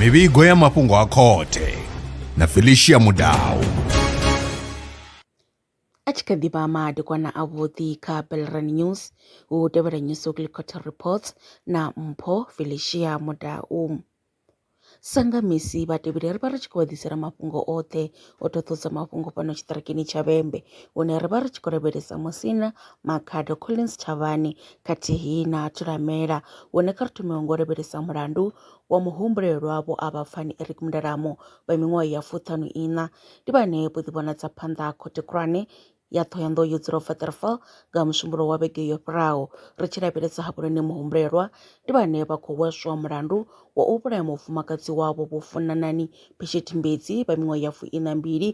mivhigo ya mafhungo a khothe na felicia mudau a tshi kha ḓi vha madekwana avhuḓi kha belran news hu tevhela news weekly quarter reports na mpho felicia mudau Sa nga misi vhatevheli ri vha ri tshi khou vha ḓisela mafhungo oṱhe o ṱoḓulusa mafhungo fhano tshiṱirikini tsha Vhembe hune ra vha ri tshi khou lavhelesa Musina Makhado Collins Tshavhani khathihi na Thulamela hune kha ri thome ngo lavhelesa mulandu wa muhumbulelwa vho Avhapfani Eric Mudalamo vha miṅwaha ya fuṱhanu iṋa ndi vhane vho ḓi vhonadza phanḓa khothe khulwane ya Ṱhohoyanḓou yo Dzulaho Waterval nga ha Musumbulowo wa vhege yo fhelaho. Ri tshi lavhelesa hafhuloni muhumbulelwa ndi vhane vha khou hweswa mulandu wa u vhulaya mufumakadzi wavho Vho Funanani Phesheti Mbedzi vha miṅwaha ya fuiṋa mbili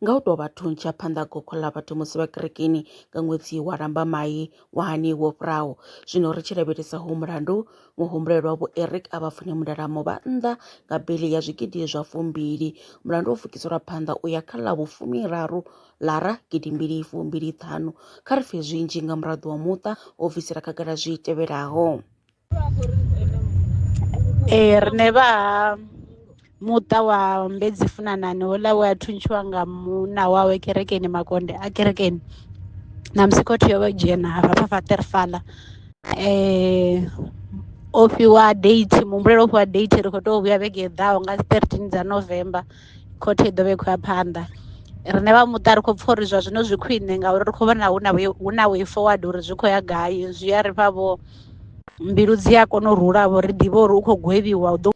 nga u tou vha thuntsha phanḓa ha gokho ḽa vhathu musi vha kerekeni nga ṅwedzi wa Lambamai wa hani wo fhiraho. Zwino ri tshi lavhelesa hoyu mulandu, muhumbulelwa Vho Eric a vha fune mundala muvhanḓa nga bili ya zwigidi zwa fumbili. Mulandu wo fukiselwa phanḓa u ya kha ḽa vhufumiraru lara gidi mbili fumbili ṱhanu. Kha ri pfe zwinzhi nga muraḓo wa muṱa o bvisela khagala zwi tevhelaho. Ee riṋe vha ha muṱa wa Mbedzi Funanani houḽa we a thuntshiwa nga munna wawe kerekeni makonde a kerekeni ṋamusi khothe yo vha yo dzhena hafha fha Waterval o fhiwa date muhumbulelwa o fhiwa date ri kho to vhuya vhege i ḓaho nga dzi thirteen dza November khothe i ḓo vha i khou ya phanḓa. Riṋe vha muṱa ri kho pfha uri zwa zwino zwi khwiṋe ngauri ri kho vhona hu na hu na way forward uri zwi khou ya gai zwi a ri fha vho Mbilu dzi a kona u rula vho ri ḓivha uri u khou gwevhiwa u ḓo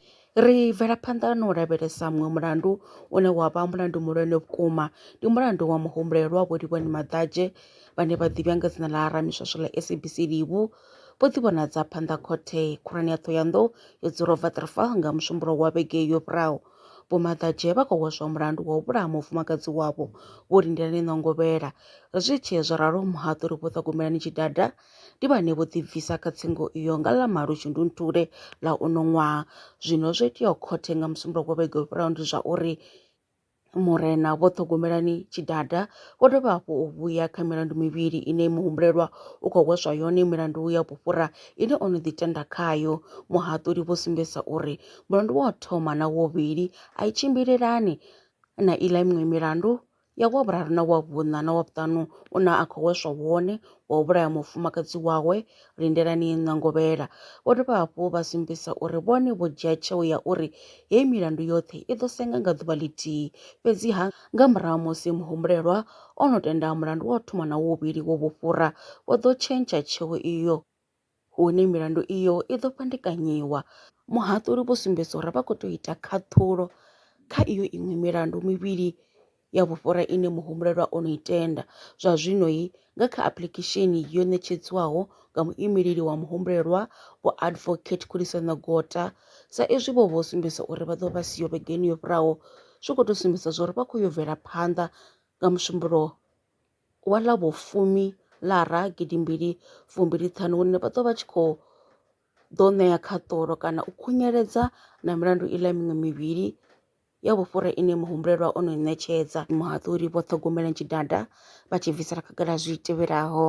Ri bvela phanḓa na u lavhelesa muṅwe mulandu une wa vha mulandu muhulwane vhukuma. Ndi mulandu wa muhumbulelwa Vho Livhuwani Maḓadzhe vhane vha ḓivhiwa nga dzina ḽa Ramiswaswo ḽa SABC Livhu vho ḓivhonadza phanḓa khothe khulwane ya Ṱhohoyanḓou yo dzula Waterval nga Musumbulowo wa vhege yo fhiraho. Vho Maḓadzhe vha khou hweswa mulandu wa u vhulaha mufumakadzi wavho Vho Lindelani Nongovhela. Zwi tshee zwo ralo muhaṱuli Vho Ṱhogomelani Tshidada Ndi vhane vho ḓibvisa kha tsingo iyo nga ḽa malo Shundunthule ḽa uno ṅwaha. Zwino zwo iteaho khothe nga Musumbuluwo wa vhege yo fhelaho ndi zwa uri Murena Vho Ṱhogomelani Tshidada vho dovha hafhu u vhuya kha milandu mivhili ine muhumbulelwa u khou hweswa yone milandu ya vhufhura ine o no ḓi tenda khayo. Muhaṱuli vho sumbedzisa uri mulandu wa u thoma na wa vhuvhili a i tshimbilelani na iḽa miṅwe milandu ya wa vhuraru na wa vhuṋa na wa vhuṱanu u na a khou hweswa wone wa u vhulaya mufumakadzi wawe lindelani ṋangovhela vho dovha hafhu vha sumbisa uri vhone vho dzhia tsheo ya uri heyi milandu yoṱhe i ḓo senga nga ḓuvha ḽithihi fhedziha nga murahu musi muhumbulelwa o no tenda mulandu wa u thoma na wovhili wo vhufhura vho ḓo tshentsha tsheo iyo hune milandu iyo i ḓo fhandekanyiwa. Muhaṱuli vho sumbedza uri vha khou tea u ita khaṱhulo kha iyo iṅwe milandu mivhili ya vhufhura ine muhumbulelwa o no i tenda. Zwa zwino nga kha apuḽikhesheni yo ṋetshedzwaho nga muimeleli wa muhumbulelwa, Vho Advocate Khulisano Gota, sa izwi vho vho sumbedza uri vha ḓo vha siho vhegeni yo fhiraho, zwi khou tou sumbedza zwa uri vha khou yo bvela phanḓa nga musumbulowo. wa ḽa vho fumi lara gidimbili fumbili ṱhanu hune vha ḓo vha tshi khou ḓo ṋea khaṱulo kana u khunyeledza na milandu i ḽa miṅwe mivhili ya vhufhura ine muhumbulelwa o no i ṋetshedza muhaṱuli vho ṱhogomela tshidada vha tshi bvisela khagala zwi tevhelaho